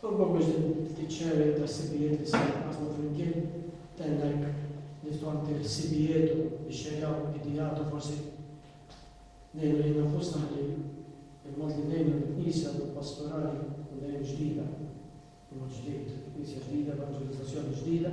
Propju biex din it-sharing ta' ħsibijiet li ser inqassmu flimkien tgħinnek niftu anke ħsibijiet u nixxerjaw ideat u forsi ngħinu lilna nfusna ħalli il-mod li ngħinu lill-Knisja u l-pastorali tkun dejjem ġdida, b'mod ġdid, Knisja ġdida, evanġelizzazzjoni ġdida.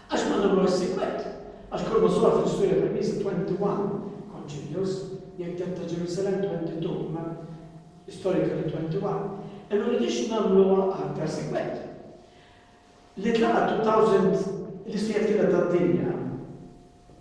Għax ma nagħmluhiex sikwit? Għax kull ma sar fl-istorja tal-Knisja 21 Concilios, jekk dak ta' Ġerusalemm 22 imma l-istorika ta' 21, e ma rridux nagħmluha aktar sikwit. Li tlaqgħet 2000 l-istejjer kienha tad-dinja.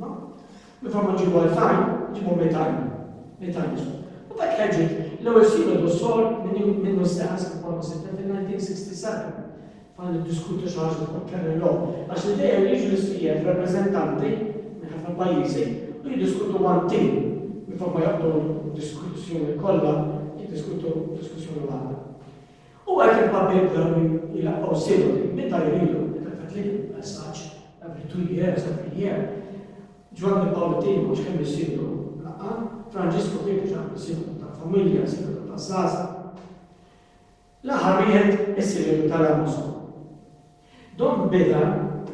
Ma? Meta huma ġiebu għal Thaim, ġiebu Metaim. Metaim ismu. U dak li ħeġġet l-ewwel sinodu sor minn minnu stess kif Pawlu sibna fil-1967 fan niddiskutu xi ħaġa fuq kemm illum. Għax l-idea li jiġu l-istieħeb rappreżentanti minn ħafna pajjiżi u jiddiskutu one team minn flok ma joqgħdu diskussjoni kollha jiddiskutu diskussjoni waħda. U għalkemm Papi u Dami jilaqgħu sinodi meta jridu, meta jfettlilhom il-messaġġ, every two years, every year, Ġwanni Pawl it-Tieni m'għadx kemm isiru laqgħa, Franġisku kien diġà għamel sinodu tal-familja, sinodu taż-żgħażagħ. L-aħħar wieħed is-sinodu tal-Amazon. Dom beda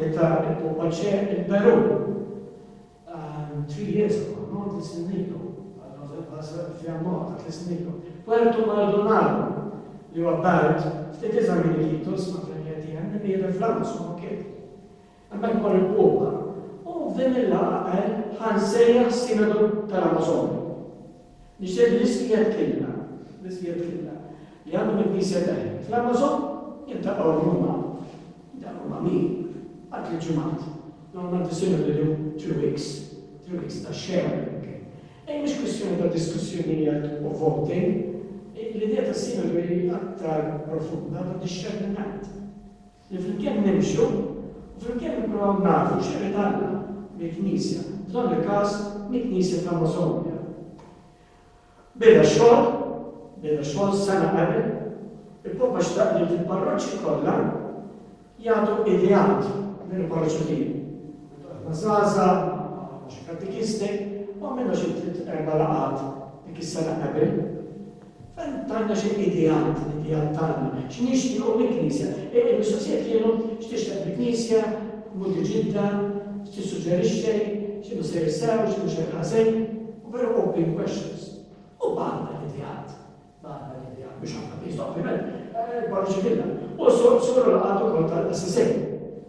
meta ppopoċe il-Perù għal three years ago, no, tliet snin ilu, f'Janwar ta' tliet snin ilu. Puerto Maldonado, li huwa belt ftit iżgħar minn Iquitos, ma' Premier Diem, li miri fl-għandu San Roque. Hemmhekk mar il-Papa u f'din il-laqgħa qal ħa nsejjaħ Sinodu tal-Amazon. Nixtieq li l-iskiet killa, l-iskiet killa, li għandhom il-Knisja Tagħhi fl-Amazon jiltaqgħu llum hawn. Dawn huma min? Għal tliet ġimgħat. Normalment isiru lilu three weeks, three weeks ta' xena anke. Ejja mhux kwistjoni ta' diskussjonijiet u voting, l-idea tas-sinodi hi aktar profunda ta' dixxerniment. Li flimkien nimxu u flimkien nippruvaw nagħrfu x'irid Alla mill-Knisja, f'dan il-każ mill-Knisja ta' Mosogna. Beda xogħol, beda xogħol sena qabel, il-Papa xtaq li fil-parroċċi kollha jagħtu ideat minn il-parroċċa tiegħu. Aħna żgħażagħ, xi katekisti, u għamilna xi tliet erba' laqgħat dik is-sena qabel. Tgħidilna xi ideat, l-ideat tagħna, xi nixtiequ mill-Knisja. Il-mistoqsija kienu, x'tixtieq mill-Knisja, modi ġidda, x'tissuġġerixxi, x'inhu sejjer sew, x'inhu xejn ħażin, u very open questions. U bagħatna l-ideat, bagħatna l-ideat, mhux ħafna Knisja ovvjament, barra xi filla. U Sur Olaqat ukoll tal-Assisi.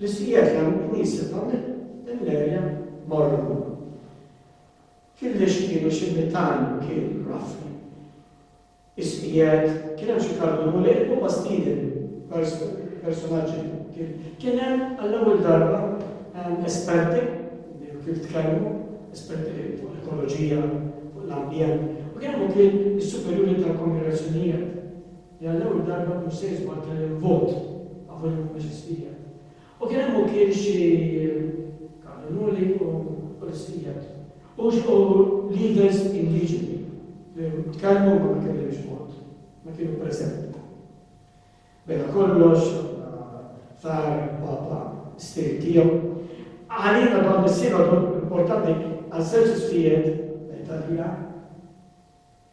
Li sieħeb hemm knisja ta' Millerja Mormon. Killex kienu xi mitajn kil rafli. Is-sieħeb kien hemm xi kardunu li ilhom ma' Stephen personaġġi kien kien hemm għall-ewwel darba esperti kif tkellmu, esperti fuq l-ekoloġija, fuq l-ambjent, u kien hemm ukoll is-superjuri tal-kongregazzjonijiet. li għall-ewwel darba mhux se jitwaddel il-vot favur il-Mhumiex Ispiżjat. U kien hemm ukiel xi kardinuli u ispiżjat u xi leaders indiġeni li tkellmu imma ma kellimx mod, ma kienu preżenti. Bejna kollox, sar il-Papa s-stil tiegħu. Għalina dan is-sinodu importanti għaż-żewġ isfijiet, l-Italja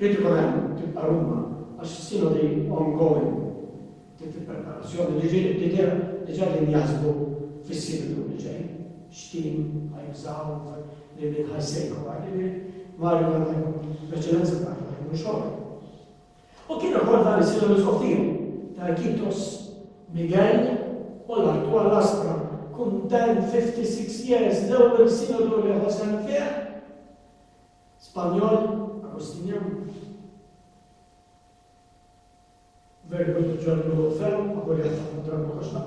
Trid ikun hemm, tibqa' Ruma, għax is-Sinodi ongoing, trid il-preparazzjoni li ġieli bdiewa diġà qegħdin jaħsbu fis-Sinodu li ġej, x'team ħa jużaw, lil min ħa jsejħu għal lil min, Mario dan ħa jkun l-eċċellenza tagħna, ħa jkun xogħol. U kien ukoll dan is-Sinodu soffir ta' Kitos, Miguel u l-attwal Laspra, kuntent 56 years l-ewwel Sinodu li ħa sehem fih, Spanjol, Agustinjan, Verbu ta' Ġwanni l-ewwel ferm, ma kolli jaħseb ma dramm ma kollx ma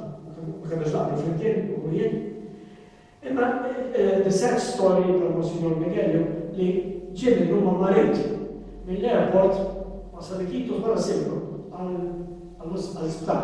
kellux naqblu flimkien u jien. Imma eh, the sad story ta' Monsignor Miguel li ġie minn huma marid mill-airport ma salikitu wara sibru għal-isptar.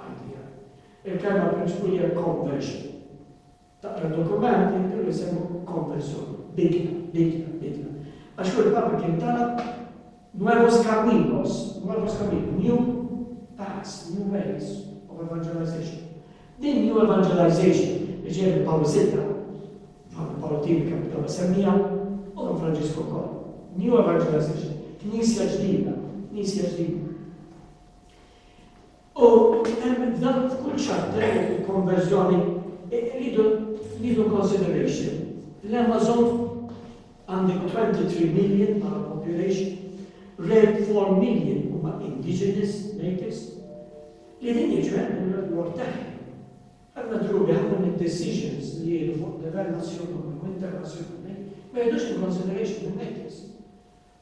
Idea. Il-kelma prinċipu hija conversion. Taqra d-dokument jidhru li semmu konversjoni, bidla, bidla, bidla. Għax hu l-Papa kien talab nuevos caminos, nuevos caminos, new paths, new ways of evangelization. Din new evangelization li ġej minn Pawlu Sitta, Ġwanni Pawlu Tini kemm bdew semmija, u minn Franġisku wkoll. New evangelization, knisja ġdida, knisja ġdida. U hemm dan f'kull chapter jekk il-konverżjoni rridu nieħdu consideration l-Amazon għandek 23 million bħala population, rare 4 million huma indigenous natives li din jiġbed minn l-word tagħhom. Għandna drubi ħafna minn decisions li jiġu fuq livell nazzjonali u internazzjonali ma jidux in consideration minn natives.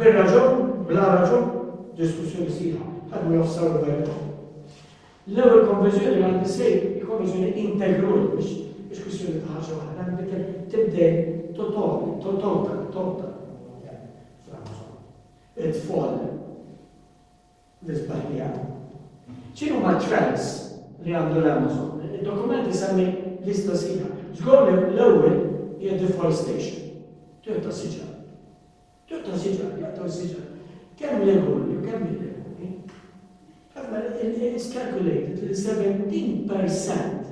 Bir-raġun, bla raġun, diskussjoni sħiħa, ħadmu nofs sawra dwar il-qofol. L-ewwel konviżjoni li għandi se konviżjoni integrali biex biex kwistjoni ta' ħaġa waħda, nbitel tibdel totoli, totota, totota, franza, it-tfal, l-isbaħ li għamel. X'inhuma t-trends li għandu l-Amazon? Id-dokument isemmi lista sħiħa. Żgur li l-ewwel hija deforestation. Tieħu ta' siġar. Tieħu ta' siġar, jaqtaw siġar. Kemm legali u kemm illegali. Ħafna is calculated li 17%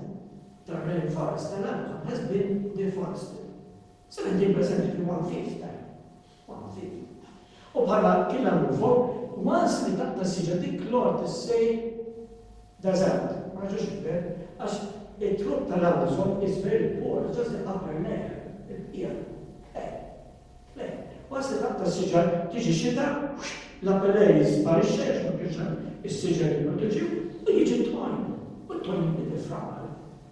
tar-rainforest tal-Amazon has been deforested. Se ngħidilkom eżempju one fifth time, one fifth time. U bħala killa mhu fuq, once li taqta' s-siġra dik l-art issir deżert, ma jiġux iġbed, għax it-trupp tal-Amazon is very poor, it's just the upper layer, il-bqija. Eh, le, once li taqta' s-siġra tiġi xita, l-upper layer jisparixxa għax ma kienx hemm is-siġra li proteġiw, u jiġi t-tgħajn, u t-tgħajn jiġi framal.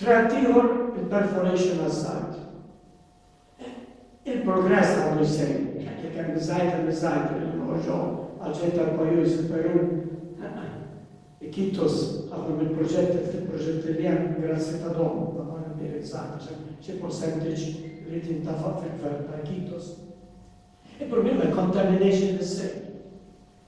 Tratt ieħor, il-perforation għaż-żgħid. Il-progress għandu jsegwi, għax jekk hemm iż-żgħid hemm iż-żgħid, irridu noħorġuhom għal ġid tal-pajjiż, il-Perù ikitus ħafna mill-proġetti ftit proġetti li hemm grazzi ta' dawn ta' dawn l-indirizzati għax hemm xi persentaġġ li jrid jintafaq fil-gvern ta' ikitus. Il-problema l-contamination li ssir.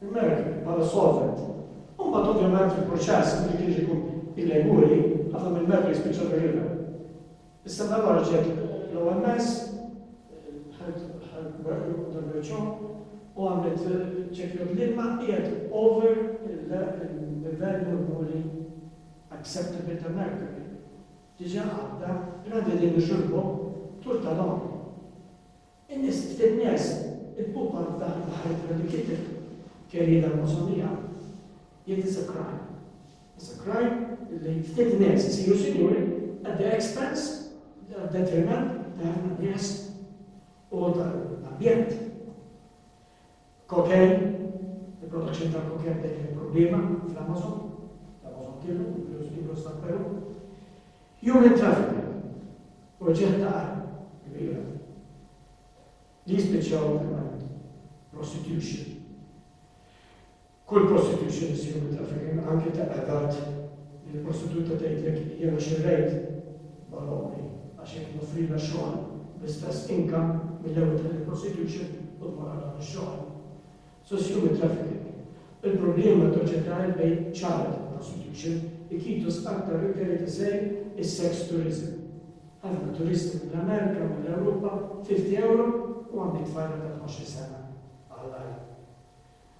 l-merk bħala solvent. U mbagħad ovvjament fil-proċess meta kien jiġi il-lejmuri, ħafna mill-merk jispiċċa fir-river. Issa dan huwa riċerk l-OMS u għamlet ċekk li l-ilma qiegħed over il-livell normali acceptable ta' mercury. Diġà għadda, għandi din nixurbu tul tal-għomri. It-test fin-ness, il-Papa f'dan l-aħħar ittra li kiteb, Querida hermosa mía, jgħid is a crime, is a crime li ftit nies isiru sinjuri at the expense, għad-detriment ta' ħafna nies u tal-ambjent. Koken, il-produzzjoni tal-koken bdejt tkun problema fl-Amazon, l-Amazon Killu, inkluż Ilos tal-Perù. Human trafficking, proġett ta' armi kbira li jispiċċaw fil-mariti, prostitution. Kull prostitution issir minn trafficking, anke ta' adult, li l-prostituta tgħidlek jiena xirrejt b'għal ommri għax hekk noffrilha xogħol bl-istess income mill-ewwel ta' din prostitution u tmur għal dan ix-xogħol. So it's human trafficking. Il-problema toġġa' tagħref bejn child prostitution, ikitus aktar referred as a is sex tourism. Ħafna turisti mill-Amerika, mill-Ewropa, 50 ewro u għandek tfajla ta' tnax-il sena għall-agħar.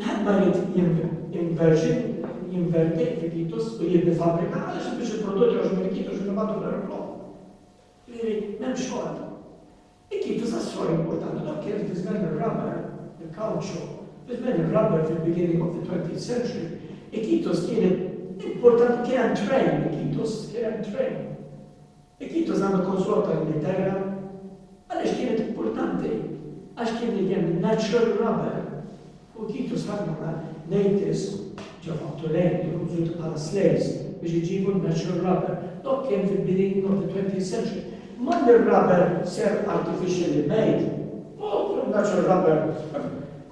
Wieħed ma jrid jinverti l-fikitus u jibni fabbrika għaliex biex il-prodott jogħġbu l-ikitus u nibgħatu fl-ajruplan. Jiġifieri m'hemmx xogħol. Ikitus għas-sogħol importanti dak kien fi żmien ir-rubber, il-kawċu, fi żmien ir-rubber fil-beginning of the 20th century. Ikitus kien importanti kien hemm trend ikitus, kien hemm trend. Jekk jintuża mill-Konsulat tal-Ingilterra, għaliex kienet importanti? Għax kien li kien natural rubber u Titus ħa mara natives ġo Fattu Lane li kienu użuti bħala slaves biex iġibu n-natural rubber. Dok kien fil-bidu of the 20th century. Imma li r-rubber ser artificially made, u natural rubber,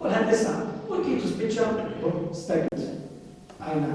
kulħadd isaq, u Titus spiċċa u stajt. Għajna.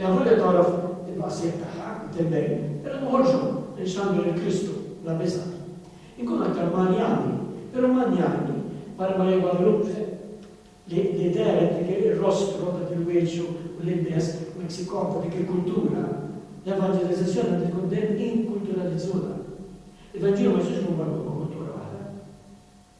Lavolja tagħraf in-nuqqasijiet tagħha, intendej, però noħorġhom biex nagħmlu lil Kristu bla biża'. Inkunu aktar manjani, però manjani barra ma li Guadalupe, li li dehret dik ir-rostru, dak il-wiċċ u l-ilbies Meksikon ta' dik il-kultura, l-evanġelizazzjoni għandha tkun dejjem inkulturalizzuta. Il-Vanġelu ma jistax ikun marbut ma' kultura waħda.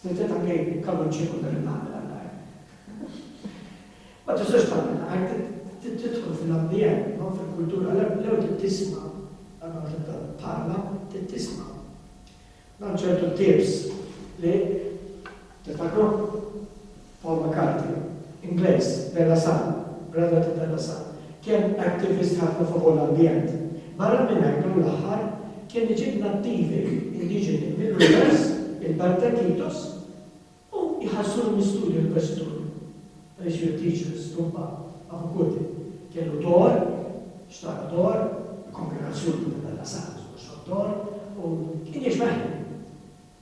Slitet ta' kejk b'kavun ċieku dan il-għamel għall-għajr. Ma tistax tagħmel għajr, trid tidħol fil-ambjent, no? fil-kultura. L-ewwel trid tisma', qabel ma tibda tparla, trid tisma'. Hemm ċertu tapes li tiftakru? Paul McCarthy, Ingliż, Bella San, brother ta' Bella San, kien activist ħafna favur l-ambjent. Barra minn hekk dan l-aħħar kien iġib nattivi indiġeni mill-univers, il-belt ta' Iquitos, u jħallsulhom l-istudju l-investituri. Għaliex jew teachers, stumpa, ma' Fukuti, kellu dor, xtara dor, il-kongregazzjoni ta' Bella San, xtara dor, u kien jgħix waħdu.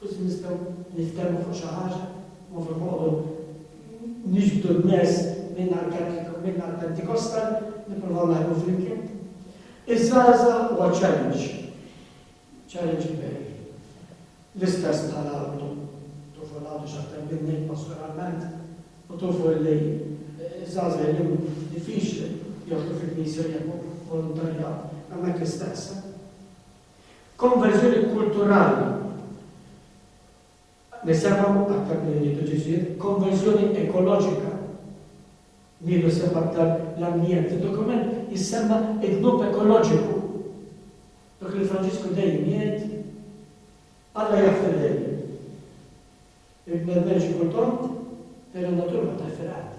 Forsi nistgħu niftehmu fuq xi ħaġa mhux fuq noqogħdu niġbdu n-nies minn għall-Pentikostal, nippruvaw naħdmu flimkien. Iż-żgħażagħ huwa challenge, challenge kbir. L-istess bħala għadu, tufu l-għadu x'aktar minni pastoralment, u tufu li żgħażagħ illum diffiċli joħdu fil-Knisja jemmu volontarja hemmhekk l-istess. Konverżjoni kulturali, Nisemgħu aktar milli nieħdu ġiżjiet. Konverżjoni ekoloġika, Nieħdu sehem aktar l-ambjent. Fid-dokument jissemma d-dnub ekoloġiku, dak li Franġisku dejjem jgħid, Alla jaf il-lejl. Il-bnedmin xi kultant, din in-natura ma taf fil-qagħda.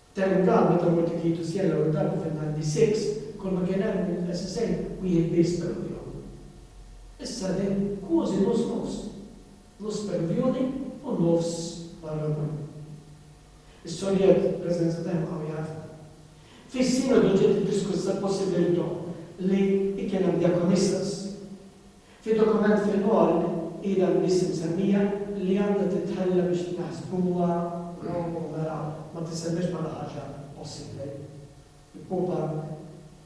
F'dan il-każ, meta wieħed irid jieħdu sien l-ewwel darba fin-96, kull ma kien hemm mill-SSN wieħed biss Peruvjan. Issa din kwozi nofs nofs, nofs Peruvjuni u nofs Barranani. Is-Sovjet preżenza ta' jibqgħu jagħrfu. Fis-Sinodu ġiet iddiskussa l-possibilità li jkien hemm diakonistas. Fid-dokument fil-qol ilha biss imsemmija li għandha titħalla biex tnaħsbuha wrong u mela ma tissemmiex bħala ħaġa possibbli. Il-Papa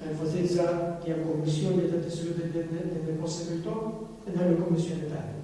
enfasizza li hemm kummissjoni li qed tistudja din il-possibilità, inħallu l-kummissjoni tagħmel.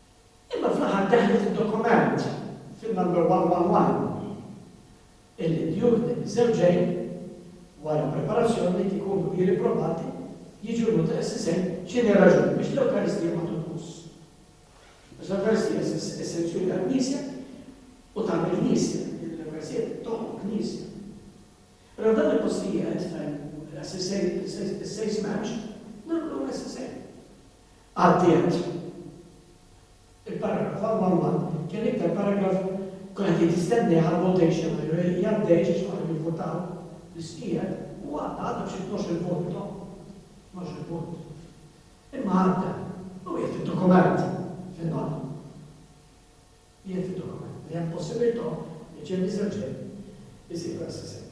Imma fl-aħħar daħlet id-dokument fin-number 111 illi djur din iż-żewġejn, wara preparazzjoni li jkunu kbiri probati, jiġu l-Multa SSN x'inhi r-raġuni biex l-Ewkaristija ma tonqos. Għax l-Ewkaristija s-sanzjoni tal-Knisja u tagħmel Knisja, din l-Ewkaristija toħloq Knisja. Allura f'dan il-postijiet fejn l-SSN is-sejs m'hemmx, nagħmlu SSN. għaddiet. Il-paragraf għal Walman kien l-iktar paragraf kien qed jitistenneh għall-votation għajru jgħaddejx għax ma kienu jivvutaw l-isqiegħed u għadda għadda b'xi tnexx-il vot no? Tnexx-il punt. Imma għadda u qiegħed fid-dokument fin-nota. Qiegħed fid-dokument li hemm possibilità li James Reġien isir Assistant.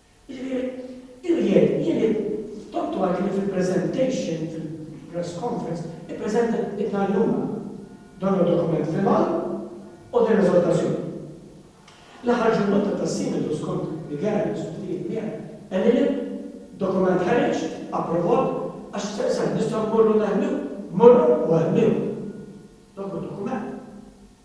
Irjen, jien id-dottu għalli li fil-presentation, fil-press conference, ippreżenta id-nhar l-Jumgħa. Dan huwa dokument final u din eżortazzjoni. L-aħħar ġurnata tas-Sinodu skont li Gerard diskutiet miegħi, qalli li dokument ħareġ, approvat, għax staqsani nistgħu mmorru neħmiew, morru u eħmiew. Dak hu dokument.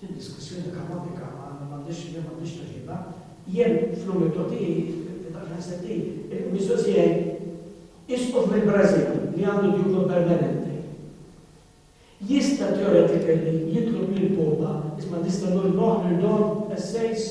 Din diskussjoni kaotika ma għandhiex li m'għandhiex tweġiba. Jien fl-umiltà tiegħi li tant ħasset hi il-mistoqsija hi, Isqof mill-Brażil li għandu djupa permanenti jista' theoretically jitlob lill-Papa, isma' nista' nolqgħu lil dawn l-essays?